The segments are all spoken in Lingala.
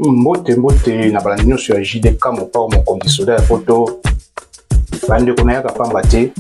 mbote mbote na bala nyonso ya jdk mopao mokonzi soda ya poto bandeko nayaka pamba te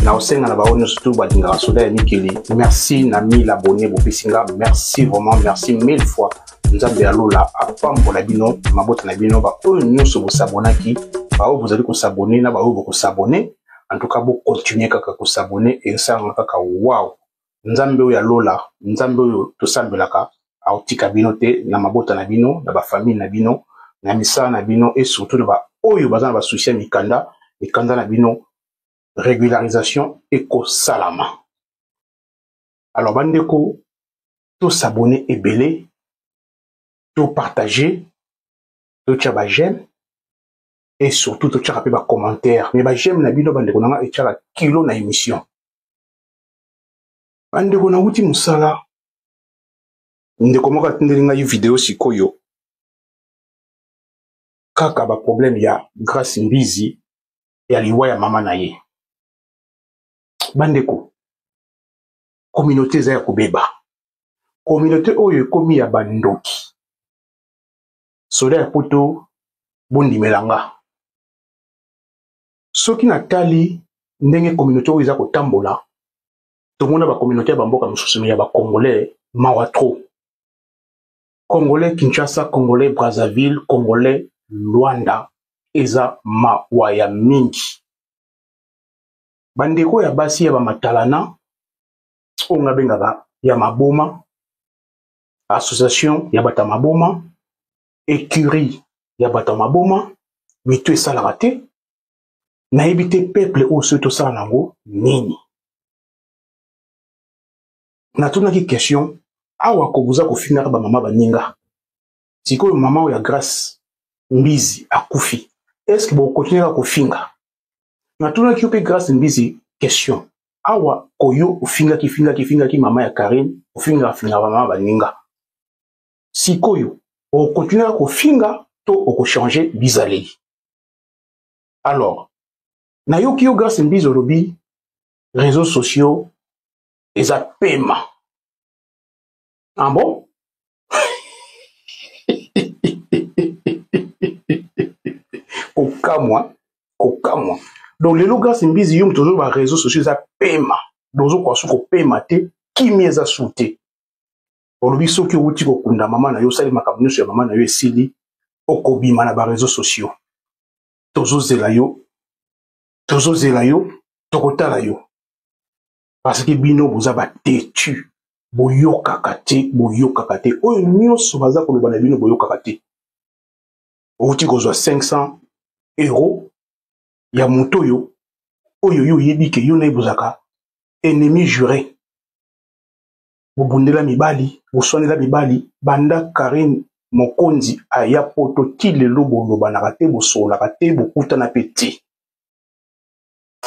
na osenga na bango nyonso tu balingaka soda ya mikili merci na mille abonne bopesi nga merci vraiment merci mille fois nzambe ya lola apambola bino mabota na bino baoyo nyonso bosabonaki baoyo bozali kosabone na baoyo bokosabone en tout cas bokontinue kaka kosabone esalanga kaka wow nzambe oyo ya lola nzambe oyo tosambelaka akotika bino te na mabota na bino na bafamile na bino na misala na bino e surtout na baoyo baza na basusi ya mikanda mikanda na bino regularisation ekosalama alors bandeko tosabone ebele topartage totya bajeme et surtout totyaka mpe bacommentaire mais bajeme na bino bandeko na nga etyaka kilo na émission bandeko nauti mosala ndeko moko atindeli ngai video sikoyo kaka baproblème ya grace mbizi ya liwa ya mama na ye bandeko communauté eza ya kobeba communauté oyo ekomi ya bandoki soda ya poto bondimela nga soki natali ndenge communauté oyo eza kotambola tomona bacommunauté ya bamboka mosusu me ya bacongolais mawa trop congolais kinshasa congolais brazzaville congolais luanda eza mawa ya mingi bandeko ya basi ya bamatalana oyo nga bengaka ya maboma association ya bato ya maboma ecurie ya bato ya maboma mitu esalaka te nayebi te peuple oyo soki tosala na yango nini natunaki question awa kobuza kofingaka bamama baninga sikoyo mama oyo ya grace mbizi akufi estce bokotinaka kofinga natunaki yo mpe grace mbizi question awa koyo ofingaki fingaki fingaki mama ya karine ofingaka fingaka mama baninga sikoyo okotinaka kofinga to okochange bizaleli alors nayoki yo grace mbizi olobi réseaux sociaux eza pema ah bon kokamwa kokamwa donc lelo grace mbizi yo moto ozoyo ba réseaux sociaux eza pema donc ozokoka su kopema te kimia eza su te olobi soki owuti kokunda mama na yo osali makambo nyonso ya mama na yo esili okobima na bareseau sociaux tozozela yo tozozela yo tokotala yo parce que bino boza batetu boyokaka te boyokaka te oyo nyonso baza koloba na bino boyokaka te owuti kozwa 500 euro ya moto oyo oyo yo oyebi ke yo na ye bozalaka ennemi jure bobundela mibali boswanela mibali banda karine mokonzi aya poto ti lelo bolobanaka te bosololaka te bokutana mpe te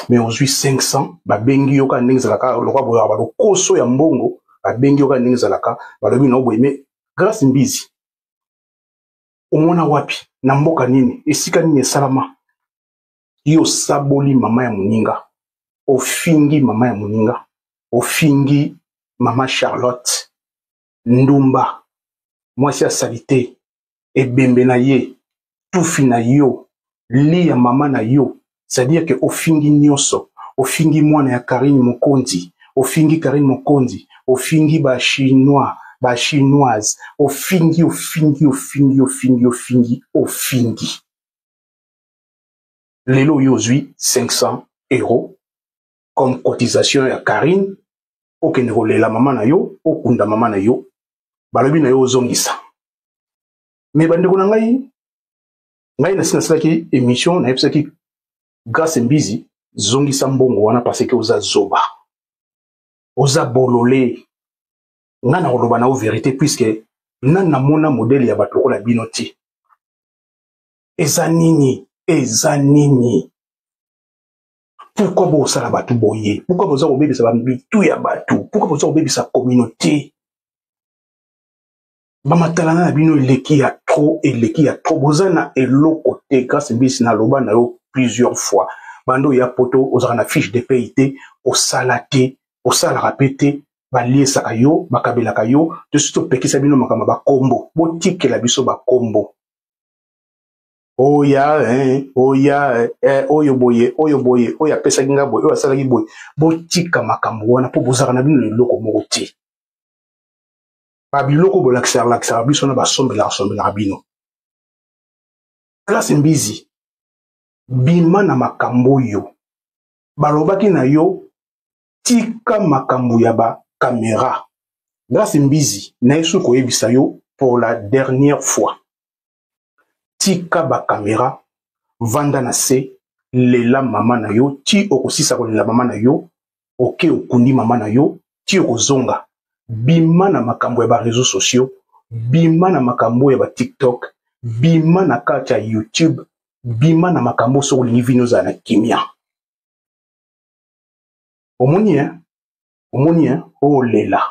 me ozwi 500 babengi yo kaka ndenge ezalaka lokwa boyaka balokoso ya mbongo babengi yo kaka ndenge ezalaka balobi nao boye me grace mbizi omona wapi na mboka nini esika nini esalama yo osaboli mama ya moninga ofingi mama ya moninga ofingi mama charlotte ndumba mwasi ya salite ebembe na ye tufi na yo li ya mama na yo c'est-à-dire ke ofingi nyonso ofingi mwana ya karine mokonzi ofingi karine mokonzi ofingi bachinois bachinoise ofingi ofingi ofingi ofingi ofingi ofingi lelo yo ozwi 500 euros comme cotisation ya Carine okende kolela mama na yo okunda mama na yo balobi na yo ozongisa me bandeko na ngai ngai nasi nasalaki émission nayebisaki grace mbizi zongisa mbongo wana parce que oza zoba oza bolole ngai nakoloba na yo verité puiske nani namona modele ya bato lokola bino te eza nini eza nini pourkui bosala bato boye pourkui boza kobebisa bamitu ya bato pourkui boza kobebisa communauté bamatalana na bino eleki ya trop eleki ya trop boza na eloko te grâce mbisi naloba na yo plusieurs fois bando ya poto ozalaka na fiche de paye te osala te osalaka mpe te baliesaka yo bakabelaka yo tosi topekisa bino makambo ya bakombo botikela biso bakombo oya eh, oya eh, eh, oyo boye oyo boye oyo apesaki ngai boye oyo asalaki boye botika makambo wana mpo bozalaka na bino na eloko moko te babiloko bolakisaka lakisaka biso na basombelaka sombelaka bino klase mbizi bima na makambo oyo balobaki na yo tika makambo ya ba camera grace mbizi naye soki koyebisa yo pour la dernière fois tika ba camera vanda na se lela mama na yo ti okosisa kolela mama na yo oke okundi mama na yo ti okozonga bima na makambo ya ba réseaux sociaux bima na makambo ya ba tiktok bima na kati ya youtube bima na makambo soki olingi vini ozala na kimia omoni hein omoni hein olela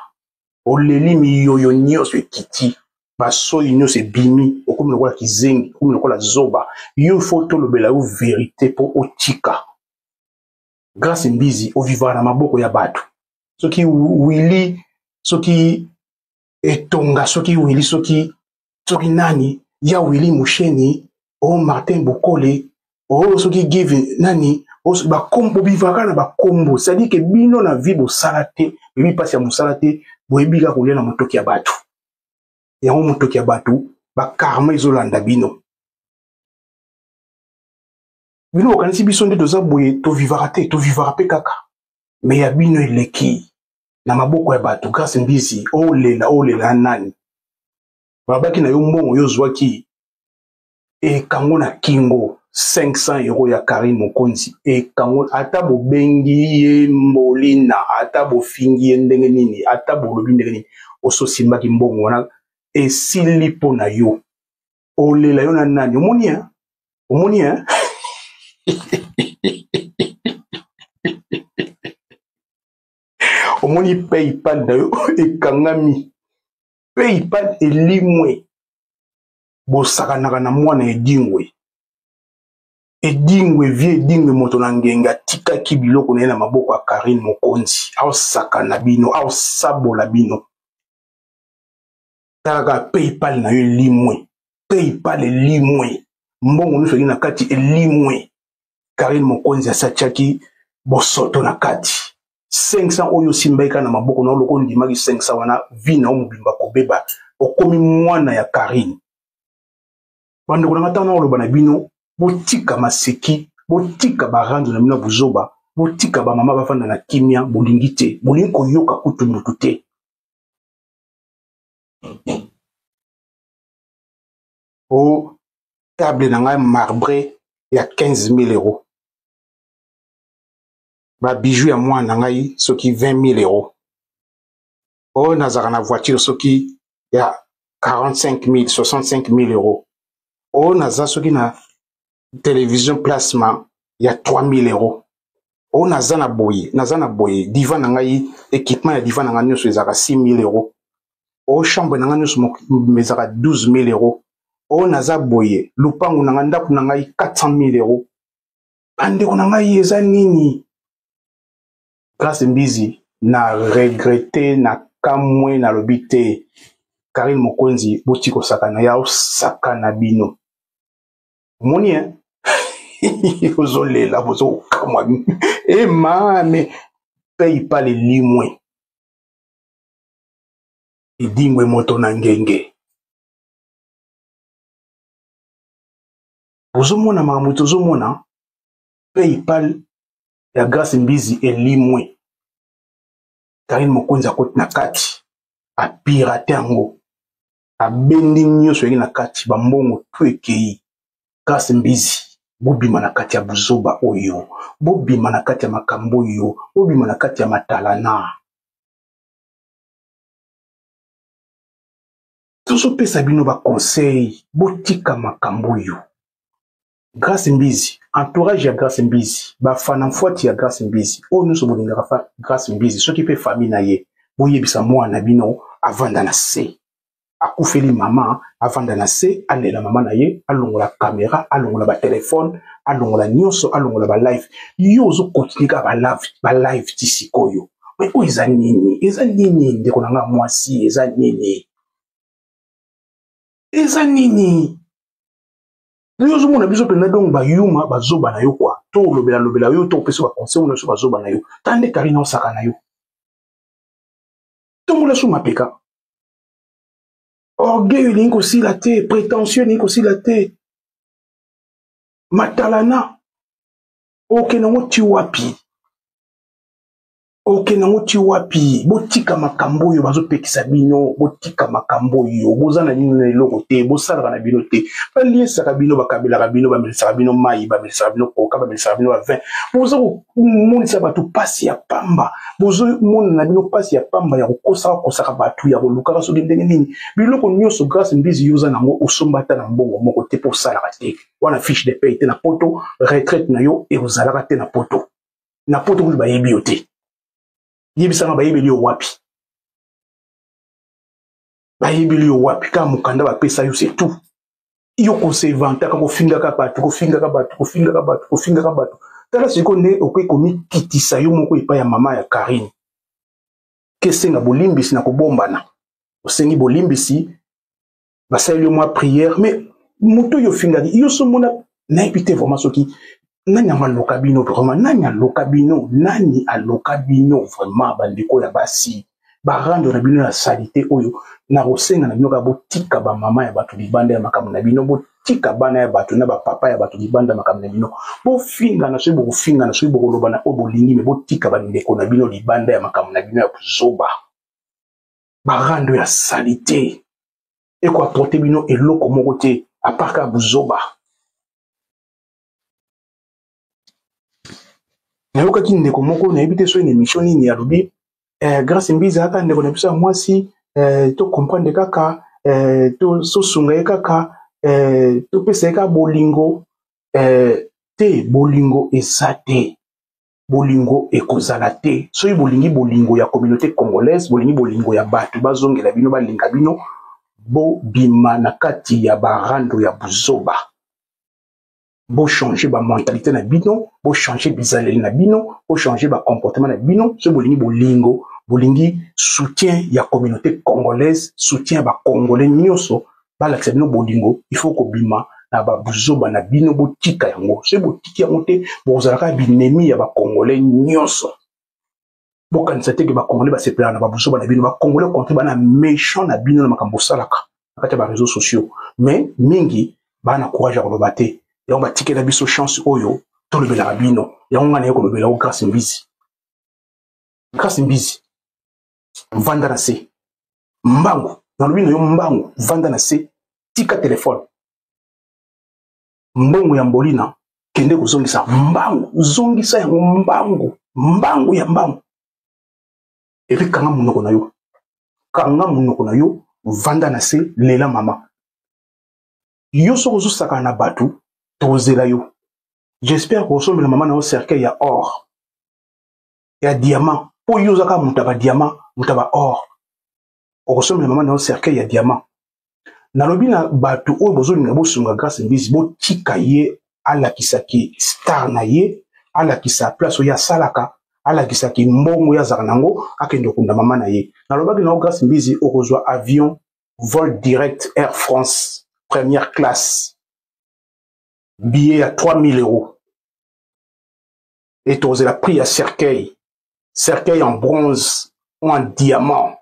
oh, oleli oh, miyoyo nyonso ekiti basoyi nyonso ebimi okomi lokola kizengi okomi lokola zoba yo fo tolobela yo verite mpo otika grace mbizi ovivaka na maboko ya bato soki wili soki etonga soki wili soki soki nani ya wili musheni o oh, martin bokole o oh, soki give nani oh, bakombo bivaka na bakombo sadi ke bino na vi bosala te bebi mpasi ya mosala te boyebi kaka kolia na motoki ya bato yango motoki ya bato bakarma ezolanda bino bino bokanisi biso nde toza boye tovivaka te tovivaka mpe kaka me ya bino eleki na maboko ya bato grace mbizi olela olela nani babaki na yo mbongo yo ozwaki ekango na kingo 500 euro ya karine mokonzi ekango ata bobengi ye mbolina ata bofingi ye ndenge nini ata bolobi ndenge nini ososimbaki mbongo wana esili mpo na yo olela yo na nani omoni ya omoni ya omoni paypal na yo ekangami paypal elimwe bosakanaka na mwana edingwe edingwe vie edingwe moto na ngenge atikaki biloko na ye na maboko ya karine mokonzi aosakana bino aosabola bino tala kaka paypal na yo elimwe paypal elimwe mbongo nyonso ezali na kati elimwe karine mokonzi asatiaki bosoto na kati 500 oyo osimbaki kaka na maboko na yo loko ondimaki 500 wana vi na yo mobimba kobeba okomi mwana ya karine bandeko na nga ntango nakoloba na bino botika maseki botika barando na bino ya buzoba botika bamama bafanda na kimia bolingi te bolingi koyoka kutu motu te o table na ngai marbre ya 15000 euros babiju ya mwana na ngai soki 20000 euros oyo nazalaka na voiture soki ya 45000 65000 euros oyo naza soki na television plasma ya 3000 euros oyo naza na boye naza na boye diva na ngai équipement ya diva na ngai nyonso ezalaka 6000 euros oyo chambre na ngai nyonso ezalaka 12000 euros oyo naza boye lupangu na ngai ndako na ngai 400000 euros bandeko na ngai eza nini grace mbizi na regrete na kamwe nalobi te karine mokonzi boti kosakana ya osakana bino omoni e ozolela bozokamwa ema me pei pa lelimwe edingwe moto na ngenge ozomona makambo tozomona paypal ya grace mbizi elimwe karine mokonzi akoti na kati apirate yango abendi nyonso yangi na kati bambongo tu ekei kasi mbizi bobima na kati ya buzoba oyo bobima na kati ya makambo oyo bobima na kati ya matalana tozopesa bino baconseil botika makambo oyo grace mbizi entourage ya grace mbizi bafana mfuati ya grace mbizi oyo nyonso bolingaka fa grace mbizi soki mpe famille na ye boyebisa mwana na bino avanda na se akufeli mama avanda na se alela mama na ye alongola kamera alongola batelefone alongola nyonso alongola balive yo ozokontinue kaka balive ti sikoyo me oyo eza nini eza nini ndeko na ngai mwasi eza nini eza nini Yo ozomona biso mpenza donc bayuma bazoba na yo kua to olobela lobela yo to opesa baconseil oyo nyonso bazoba na yo tala nde karina osaka na yo tombola so mapeka orgueil elingi kosila te prétentieux elingi kosila te matalana okende yango ti wapi okende yango ti wapi botika makambo oyo bazopekisa bino botika makambo oyo boza na bino na eloko te bosalaka na bino te baliesaka bino bakabelaka bino bamelisaka bino mai bamelisaka bino koka bamelisaka bino bavin boza komonisa bato mpasi ya pamba bozomona na bino mpasi ya pamba ya kokosaka kosaka bato ya kolukaka soki ndenge nini biloko nyonso grace mbizi yo oza nango osomba ata na mbongo moko te mpo osalaka te wana fiche de paye te na poto retraite na yo ekozalaka te na poto na poto kutu bayebi yo te yebisanga bayebeli yo wapi bayebeli yo wapi kaka mokanda bapesa yo se tout yo kosevantaka kofingaka bato kofingaka bato kofingaka bato kofingaka bato tala sikoyo nde okoki komikitisa yo moko epai ya mama ya karine kesenga bolimbisi na kobombana osengi bolimbisi basaleli yo mwa prière mais moto oyo ofingaki yo somona nayebi te vraiment soki nani yango aloka bino vraiment nani aloka bino nani aloka bino vraiment bandeko ya basi barando na bino ya salite oyo nakosenga na bino kaka botika bamama ya bato libanda ya makambo na bino botika bana ya bato na bapapa ya bato libanda ya makambo na bino bofingana soki bokofingana soki bokoloba na oyo bolingi me botika bandeko na bino libanda ya makambo na bino ya buzoba barando ya salite eko apporte bino eloko moko te apart kaka buzoba nayokaki ndeko moko nayebi te soki na emission nini alobi eh, grace mbiza aka ndeko na biso ya mwasi eh, to comprendre kaka eh, tosunga ye kaka eh, topesa ye kaka bolingo eh, te bolingo eza te bolingo ekozala te soki bolingi bolingo ya communauté congolaise bolingi bolingo ya bato bazongela bino balinga bino bobima na kati ya barando ya buzoba bochange bamentalité na bino bochange bizaleli na bino bochange bacomportement na bino soki bolingi bolingo bolingi soutien ya communauté congolaise soutien ya bacongolais nyonso balakisa bino bolingo il faut kobima na babuzoba na bino botika yango soki botiki yango te bokozala kaka binemi ya bakongole nyonso bokanisa te ke bakongole basepelaka na babuzoba na bino bakongole kontre bana méchant na bino na makambo osalaka na kati ya bareseau sociaux mais mingi baa na courage ya koloba te yango batikela biso chance oyo tolobelaka bino yango ngai naye kolobela o grace mbizi grace mbizi vanda na se mbangu nalobi na yo mbangu vanda na se tika telefone mbongo ya mbolina kende kozongisa mbangu zongisa yango mbangu mbangu ya mbangu epi kanga monoko na yo kanga monoko na yo vanda na se lela mama yo soki ozosakana na bato tozela yo j'espère kosombela mama na yo cercueil ya or ya diamant mpo yo ozaka moto ya badiamant moto ya baor okosombela mama na yo cercueil ya diamant nalobi na bato oyo bozolinga bosunga grace mbizi botika ye alakisa ki star na ye alakisa place oyo asalaka alakisa ki mbongo ye azalaka na yango akende okunda mama na ye nalobaki na yo grace mbizi okozwa avion vol direct air france première classe billet ya 3000 euros et tokozela prix ya cercueil cercueil en bronze ou en diamant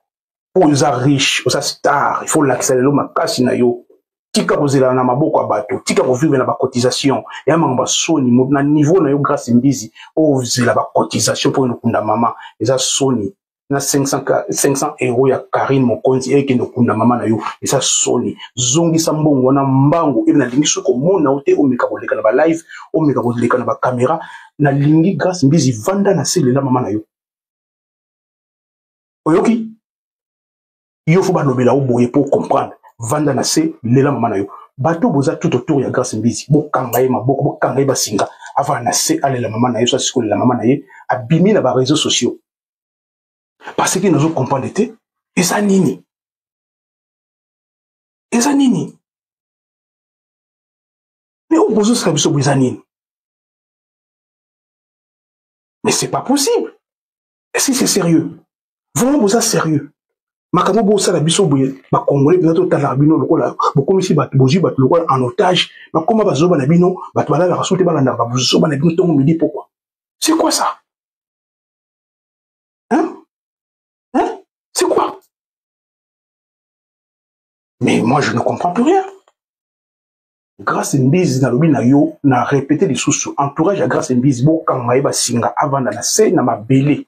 mpo oyo oza riche oza star il faut olakisa lelo makasi na yo tika kozela na maboko ya bato tika kovivre na bacotisation ya makambo ya soni na niveau na yo grace mbizi ozela bacotisation mpo okunda mama eza soni na 500, 500 euro ya karine mokonzi ekende okunda mama na yo eza soni zongisa mbongo wana mbango ebe nalingi soki komona yo te omeka koleka na balive omeka koleka na bakamera nalingi grace mbizi vanda na selela mama na yo oyoki yo fo balobela yo boye mpo comprendre vanda na se lela mama na yo bato boza tout autour ya grace mbizi bokanga ye maboko bokanga ye basinga avanda na se alela mama na ye so asikolela mama na ye abimi na bareseau sociaux parce que nazo comprendre te eza nini eza nini mais oyo bozosala biso bo eza nini mais c'est pas possible est-ce que c'est sérieux vraiment boza sérieux makambo bosala biso boye bakongole mpenza totalaka bino lokola bokomisi bato bozwi bato lokola en otage bakoma bazoba na bino bato balalaka so te balandaka bazoba na bino ntongo midi pokwa c'est quoi ça Hein? Hein? C'est quoi Mais moi, je ne comprends plus rien. Grâce Mbizi, nalobi na yo, na répété les sous entourage à Grâce Mbizi, bo kanga eba singa avant na se na mabele.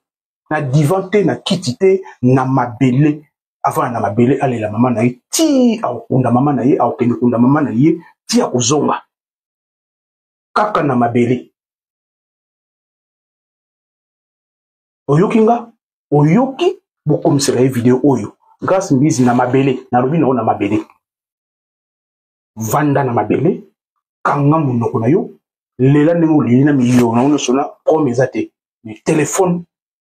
Na divan te, na kiti te, na mabele. Avant na mabele, allez la maman na ye, ti a okunda maman na ye, a okende kunda maman na ye, ti a kozonga. Kaka na mabele. oyoki nga oyoki bokomisela ye video oyo grace mbizi na mabele nalobi nango na mabele vanda na mabele kanga monoko na yo lela ndenge oleli na miyo nango nyonso na prome eza te mais telefone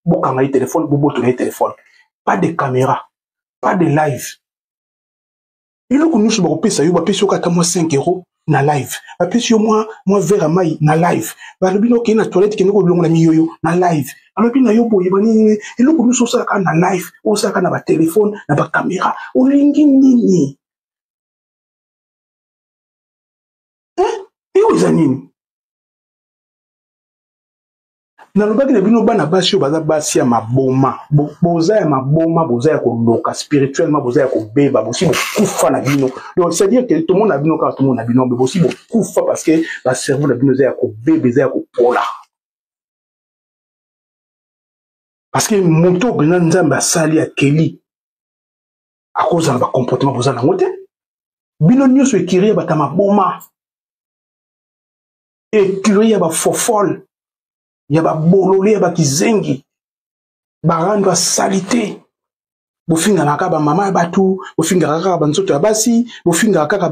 bokanga ye telefone bobotola ye telefone pas de caméra pas de live eloko nyonso bakopesa yo bapesi yo kata mwa 5 euro na live bapesi yo mwa mwa verre ya mai na live balobi na okei na toilette kende kolongo na miyoyo na live balobi na yo boye banini eloko nyonso osalaka na live osalaka na batelefone na bakamera olingi nini eh? eyo eza nini nalobaki na bino bana basi oyo baza basi ya maboma boza ya maboma boza ya koloka spirituellement boza ya kobeba bosi bokufa na bino donc c'est-à-dire que tomona bino kaka tomona bino me bosi bokufa parce que bacerveau na bino eza ya kobeba eza ya kopola parce que moto mpenza nzambe asali akeli akozala bacomportement boza nango te bino nyonso ekiri ya bata maboma ecurie ya bafofole ya babolole ya bakizengi barando ya salite bofingaka kaka bamama ya bato bofingaka kaka banzoto ya basi bofingaka kaka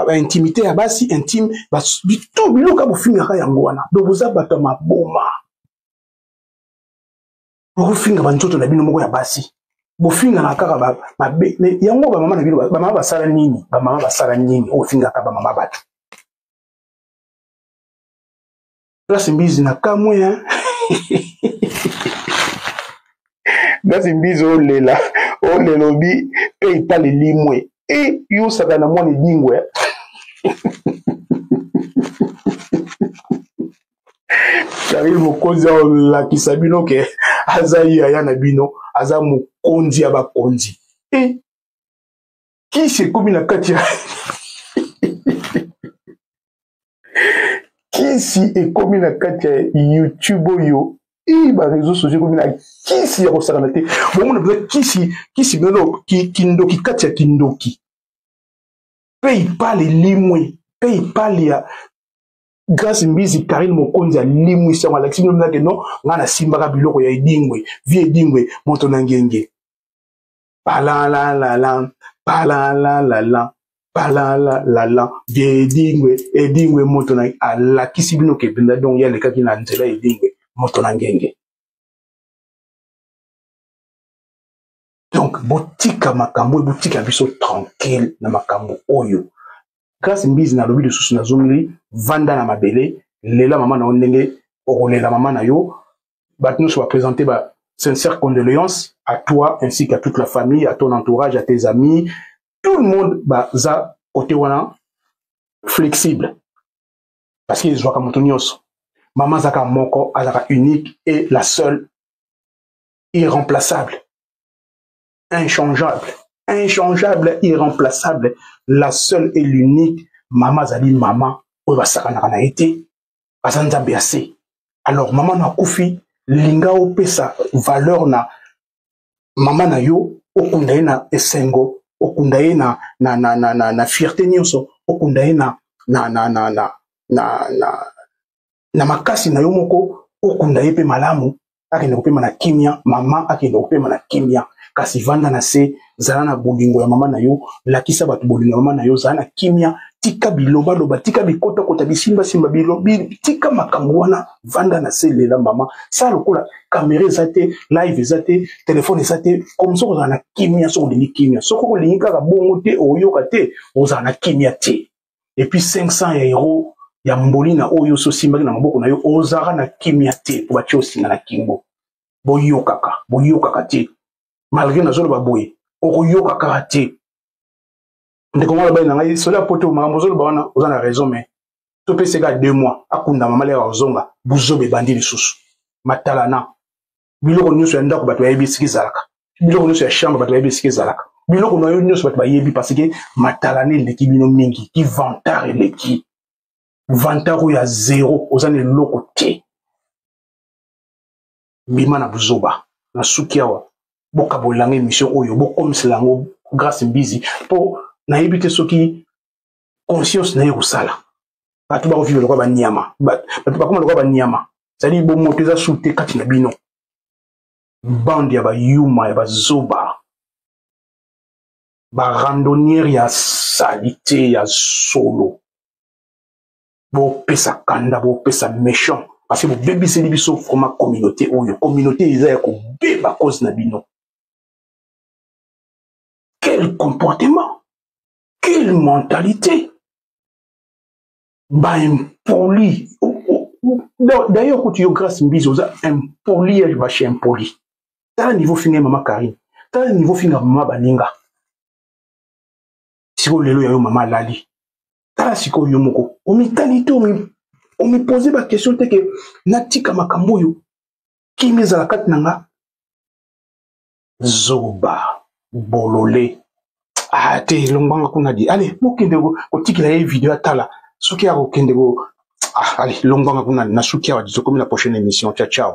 baintimité ba, ba, ba ya basi intime to biloka bofingaka yango wana donc boza bato ya maboma bokofinga banzoto na bino moko ya basi bofingana kaka mabe me yango bamama na bino bamama basala nini bamama basala nini ofingaka bamama bato Grace Mbizi na kamwe hein. Grace Mbizi olela olela obi pe itali limwe e yo saka na mwana edingwe Karine mokonzi aolakisa bino ke aza yaya na bino aza mokonzi ya bakonzi e kisi ekomi na kati ya kisi ekomi na kati ya youtube oyo i bareseau sociaux ekomi na kisi ya kosakana te bomona mpenza kisi kisi mpenza kindoki kati ya kindoki mpe ipale limwe mpe ipale ya grace mbizi karine mokonzi alimwisi yango alakisi bino mpenza ke non ngai nasimbaka biloko ya edingwe vi edingwe moto na ngenge Palalalala, palalalala, palalalala. Vieux Edingwe, Edingwe moto na alakisi bino ke Benda Dong ye alekaki na nzela ya Edingwe moto na ngenge. Donc botika makambo oyo botika biso tranquille na makambo oyo. Grace Mbizi nalobi lisusu nazongeli vanda na mabele lela mama na yo ndenge okolela mama na yo bato nyonso bapresente ba sincère condoléance à toi ainsi qu'à toute la famille à ton entourage à tes amis tout le monde baza kote wana flexible parce que ezwaka moto nyonso mama azalaka moko azalaka unique et la seule irremplaçable inchangeable inchangeable irremplaçable la seule et l'unique mama azali mama oyo basakanaka na ye te aza nzambe ya se alors mama na akufi linga opesa valeur na mama na yo okunda ye na esengo okunda ye na, na, na, na, na, na fierte nyonso okunda ye na, na, na, na, na, na, na, na makasi na yo moko okunda ye mpe malamu akende kopema na kimia mama akende kopema na kimia kasi vanda na se zala na bolingo ya mama na yo lakisa bato bolingo ya mama na yo zala na kimia tika bilobaloba tika bikotakota bisimbasimba bilobi tika makambo wana vanda na se lela mama sala lokola kamera eza te live eza te telefone eza te komi soki ozala na kimia soki olingi kimia soki olingi kaka bongo te oyoka te ozala na kimia te et puis 500 ya euro ya mbolina oyo osi osimbaki na maboko na yo ozalaka na kimia te mpo batye osinga na kingo boyokaka boyokaka te malgre nazoloba boye okoyoka kaka te ndeko mwana bali na ngai soli ya poto makambo ozoloba wana oza na raison mais topeseka deux mois akunda mama leka kozonga buzoba ebandi lisusu matalana biloko nyonso ya ndako bato bayebi esika ezalaka biloko nyonso ya chambre bato bayebi esika ezalaka biloko na yo nyonso bato bayebi parce que matalana eleki bino mingi ki vantar eleki vantar oyo ya zero oza na eloko te bima na buzoba na suki awa bokabolela yango émission oyo bokomisela yango grace mbizi mpo nayebi te soki conscience na ye ekosala bato bakoviva lokola banyama bato bakoma lokola banyama ezali bomoto eza su te kati na bino bande ya bayuma ya bazoba barandonniere ya salite ya solo bopesa kanda bopesa méchant parce que bobebiseli biso vraimen communauté oyo communauté eza ya kobeba cause na bino quel comportement Quelle mentalité Bah impoli. Oh, oh, oh. D'ailleurs, quand tu as grâce mbizo, oza impoli, elle va chez impoli. T'as un niveau fini, maman Karine. T'as un niveau fini, maman Baninga. Si vous lelo yo maman Lali. T'as si ko yo moko. On m'y talite, on m'y on m'y posait ma question, t'es que natika makambo yo. Qui m'y zalakat nanga? zoba bolole ah te longbanga kuna di ale mokende kotikela ye video atala soki akokende ko ah ale longbanga kuna na suki awa tokomi na prochaine émission ciao ciao